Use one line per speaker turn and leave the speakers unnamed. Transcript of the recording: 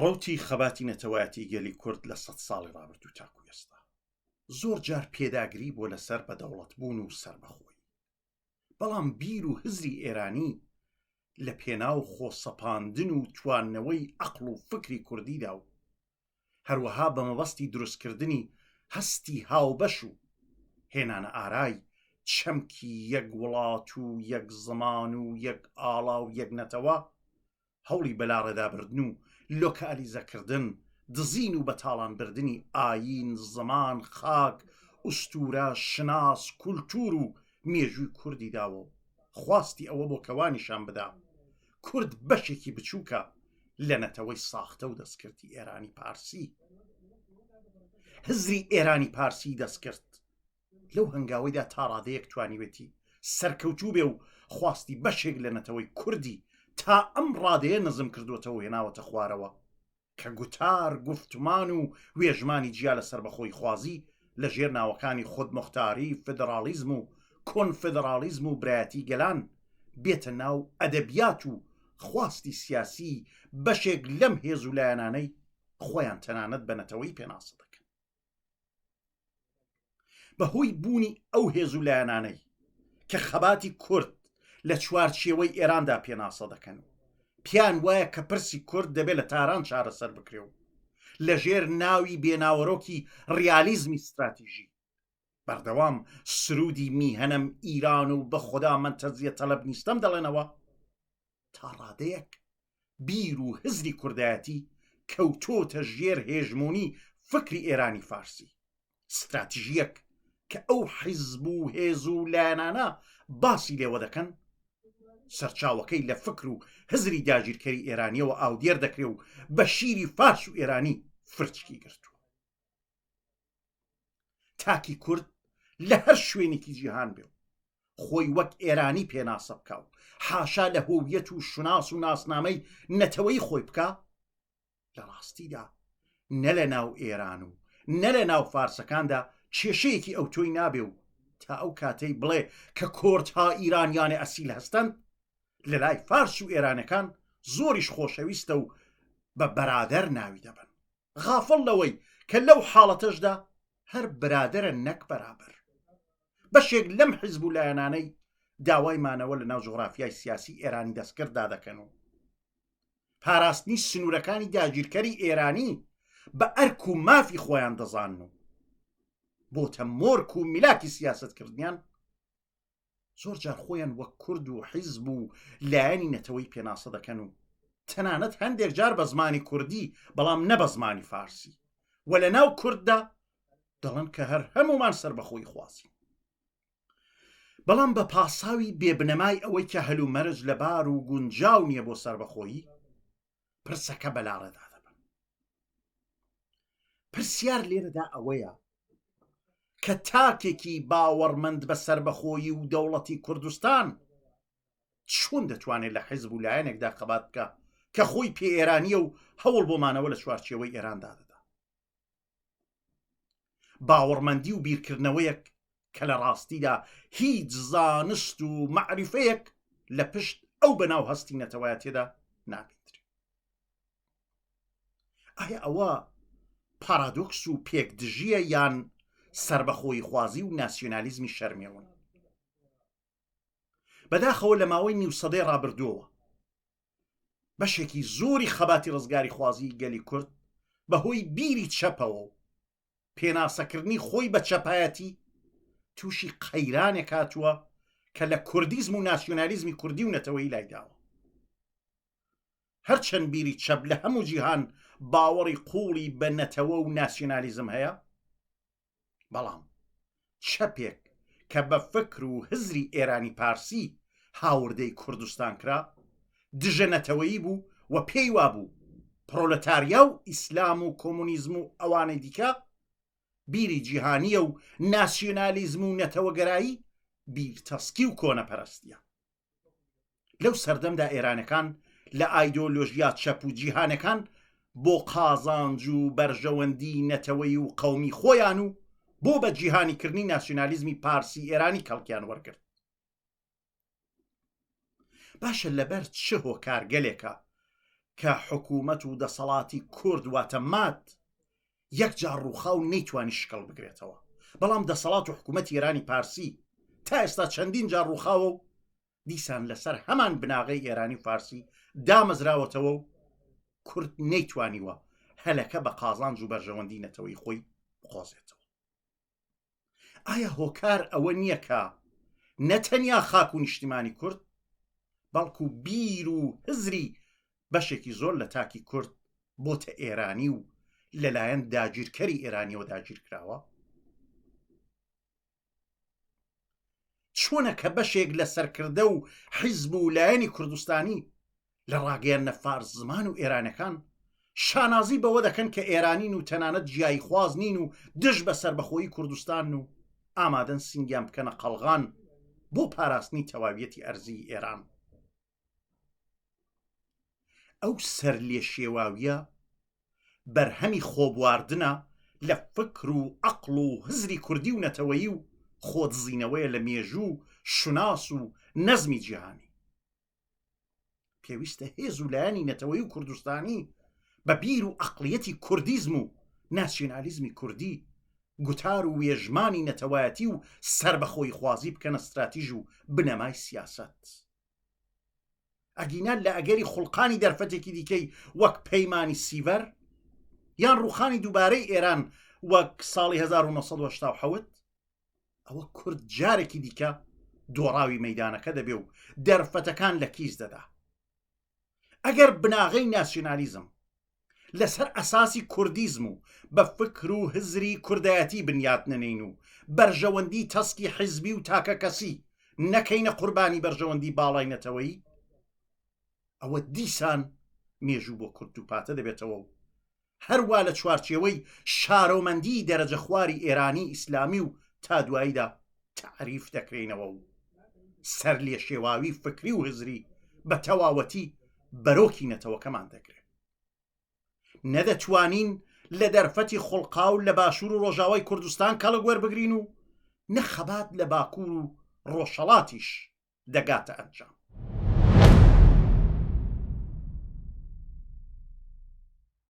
ڕەوتی خەباتی نەتەوایەتی گەلی کورد لە سەد ساڵی ڕابردوو تاکو ئێستا زۆر جار پێداگری بۆ لەسەر بە دەوڵەت بوون و سربەخۆی بەڵام بیر و هزری ئێرانی لە پێناو خۆسەپاندن و تواننەوەی ئەقل و فکری کوردیدا و هەروەها بە مەبەستی دروستکردنی هەستی هاوبەش و هێنانە ئارای چەمکی یەک وڵات و یەک زمان و یەک ئاڵا و یەک نەتەوە هەوڵی بەلاڕێدابردن و لۆکالیزەکردن، دزین و بەتاڵانبردنی ئایین، زمان، خاک، ئوستوورە، شوناس، کولتوور و مێژووی کوردی داوە و خواستی ئەوە بۆ کە وانیشان بدا کورد بەشێکی بچووکە لە نەتەوەی ساختە و دەستکردی ئێرانی پارسی هزری ئێرانی پارسی دەستکرد لەو هەنگاوەیدا تا ڕادەیەک توانیوێتی سەرکەوتوو بێ و خواستی بەشێک لە نەتەوەی کوردی تا ئەم ڕادەیە نزم کردوەتەوە و هێناوەتە خوارەوە کە گوتار گوفتمان و وێژمانی جیا لە سەربەخۆیخوازی لە ژێر ناوەکانی خودموختاری فیدڕاڵیزم و کۆنفیدڕاڵیزم و برایەتی گەلان بێتە ناو ئەدەبیات و خواستی سیاسی بەشێک لەم هێز و لایەنانەی خۆیان تەنانەت بە نەتەوەی پێناسە دەکەن بەهۆی بوونی ئەو هێز و لایەنانەی کە خەباتی کورد لە چوارچێوەی ئێراندا پێناسە دەکەن و پیان وایە کە پرسی کورد دەبێت لە تاران چارەسەر بکرێ و لەژێر ناوی بێناوەرۆکی ڕیالیزمی استراتیژی بەردەوام سرودی میهنم ئیران و بە خوددا من تەزیە تەلب نیستم دەڵێنەوە تا ڕادەیەک بیر و هزری کوردایەتی کەوتۆتە ژێر هێژموونی فکری ئێرانی فارسی ستراتژیەک کە ئەو حیزب و هێز و لایەنانە باسی لێوە دەکەن سەرچاوەکەی لە فکر و هزری داگیرکەری ئێرانیەوە ئاودێر دەکرێ و بە شیری فارس و ئێرانی فرچکی گرتووە تاکی کورد لە هەر شوێنێکی جیهان بێ خۆی وەک ئێرانی پێناسە بکە و حاشا لە هۆویەت و شوناس و ناسنامەی نەتەوەی خۆی بکە لە ڕاستیدا نە لە ناو ئێران و نە لە ناو فارسەکاندا کێشەیەکی ئەو تۆی نابێ و تا ئەو کاتەی بڵێ کە کۆرت ها ئیرانیانە ئەسیل هەستن لە لای فارس و ئێرانەکان زۆریش خۆشەویستە و بە بەرادەر ناوی دەبن غافڵ لەوەی کە لەو حاڵەتەشدا هەر برادرە نەک بەرابەر بەشێک لەم حزب و لایەنانەی داوای مانەوە لە ناو جغرافیای سیاسی ئێرانی دەستکرددا دەکەن و پاراستنی سنوورەکانی داگیرکەری ئێرانی بە ئەرک و مافی خۆیان دەزان و بۆتە مۆرک و میلاکی سیاستکردنیان زۆر جار خۆیان وەک کورد و حیزب و لایەنی نەتەوەی پێناسە دەکەن و تەنانەت هەندێک جار بە زمانی کوردی بەڵام نە بە زمانی فارسی و لە ناو کورددا دەڵن کە هەر هەمومان سربەخۆی خوازی بەڵام بە پاساوی بێبنەمای ئەوەی کە هەلومەرج لەبار و گونجاو نییە بۆ سربەخۆیی پرسەکە بەلاڕێدا دەبن پرسیار لێرەدا ئەوەیە کە تاکێکی باوەڕمەند بە سربەخۆیی و دەوڵەتی کوردستان چون دەتوانێت لە حیزب و لایەنێکدا خەبات بکە کە خۆی پێ ئێرانیە و هەوڵ بۆمانەوە لە چوارچەوەی ئێراندا دەدا باوەڕمەندی و بیرکردنەوەیەک کە لە ڕاستیدا هیچ زانست و مەعریفەیەک لە پشت ئەو بەناو هەستی نەتەوایەتێدا نابیندرێ ئایا ئەوە پارادۆکس و پێک دژیە یان سربەخۆی خوازی و ناسیۆنالیزمی شەرمێون بەداخەوە لە ماوەی نیوسەدەی ڕابردووەوە بەشێکی زۆری خەباتی ڕزگاری خوازی گەلی کورد بەهۆی بیری چەپەوە و پێناسەکردنی خۆی بە چەپایەتی تووشی قەیرانێک هاتووە کە لە کوردیزم و ناسیۆنالیزمی کوردی و نەتەوەی لایداوە هەرچەند بیری چەپ لە هەموو جیهان باوەڕی قوڵی بە نەتەوە و ناسیۆنالیزم هەیە بەڵام چەپێک کە بە فکر و هزری ئێرانی پارسی هاوردەی کوردستان کرا دژە نەتەوەیی بوو و پێی وابوو پرۆلتاریا و ئیسلام و کۆمونیزم و ئەوانەی دیکە بیری جیهانیە و ناسیۆنالیزم و نەتەوەگەرایی بیرتەسکی و کۆنەپەرستیە لەو سەردەمدا ئێرانەکان لە ئایدۆلۆژیا چەپ و جیهانەکان بۆ قازانج و بەرژەوەندی نەتەوەی و قەومی خۆیان و بۆ بە جیهانیکردنی ناسیۆنالیزمی پارسی ئێرانی کەڵکیان وەرگرت باشە لەبەر چ هۆکارگەلێکە کە حکوومەت و دەسەڵاتی کورد واتە مات یەک جار ڕووخا و نەیتوانی شکڵ بگرێتەوە، بەڵام دەسەڵات و حکوومەتی ئێرانی پارسی تا ئێستا چەندین جار ڕووخاوە و دیسان لەسەر هەمان بناغەی ئێرانی و فارسی دامەزراوەتەوە و کورد نەیتوانیوە هەلەکە بە قازانج و بەرژەوەندی نەتەوەی خۆی بقۆزێتەوە. ئایا هۆکار ئەوە نییە کە نەتەنیا خاک و نیشتیمانی کورد بەڵکو بیر و هزری بەشێکی زۆر لە تاکی کورد بۆتە ئێرانی و لەلایەن داگیرکەری ئێرانیەوە داگیر کراوە چۆنە کە بەشێک لە سەرکردە و حیزب و لایەنی کوردستانی لە ڕاگەیاندنە فارس زمان و ئێرانەکان شانازی بەوە دەکەن کە ئێرانین و تەنانەت جیایی خواز نین و دژ بە سربەخۆیی کوردستان و ئامادەن سنگیان بکەنە قەلغان بۆ پاراستنی تەواویەتی ئەرزی ئێران ئەو سەر لێ شێواویە بەرهەمی خۆبواردنە لە فکر و عقل و هزری کوردی و نەتەوەیی و خۆدزینەوەیە لە مێژوو شوناس و نەزمی جیهانی پێویستە هێز و لایەنی نەتەوەی و کوردستانی بە بیر و ئەقلیەتی کوردیزم و ناسیۆنالیزمی کوردی گوتار و وێژمانی نەتەوایەتی و سربەخۆی خوازی بکەنە استراتیژ و بنەمای سیاست. ئەگینا لە ئەگەری خوڵقانی دەرفەتێکی دیکەی وەک پەیمانی سیڤەر یان ڕوخانی دووبارەی ئێران وەک ساڵی 1970 ئەوە کورد جارێکی دیکە دۆڕاوی مەدانەکە دەبێ و دەرفەتەکان لە کیس دەدا ئەگەر بناغەی ناسیۆنالیزم لەسەر ئەساسی کوردیزم و بە فکر و هزری کوردایەتی بنیات نەنین و بەرژەوەندی تەسکی حیزبی و تاکە کەسی نەکەینە قوربانی بەرژەوەندی باڵای نەتەوەی ئەوە دیسان مێژوو بۆ کورد و پاتە دەبێتەوە و هەروا لە چوارچێوەی شارۆمەندی دەرەجە خواری ئێرانی ئیسلامی و تا دواییدا تەعریف دەکرێنەوە و سەر لێ شێواوی فکری و هزری بە تەواوەتی بەرۆکی نەتەوەکەمان دەگرێت نەدەتوانین لە دەرفەتی خوڵقاو لە باشوور و ڕۆژاوای کوردستان کەڵک وەربگرین و نە خەبات لە باکوور و ڕۆژهەڵاتیش دەگاتە ئەنجام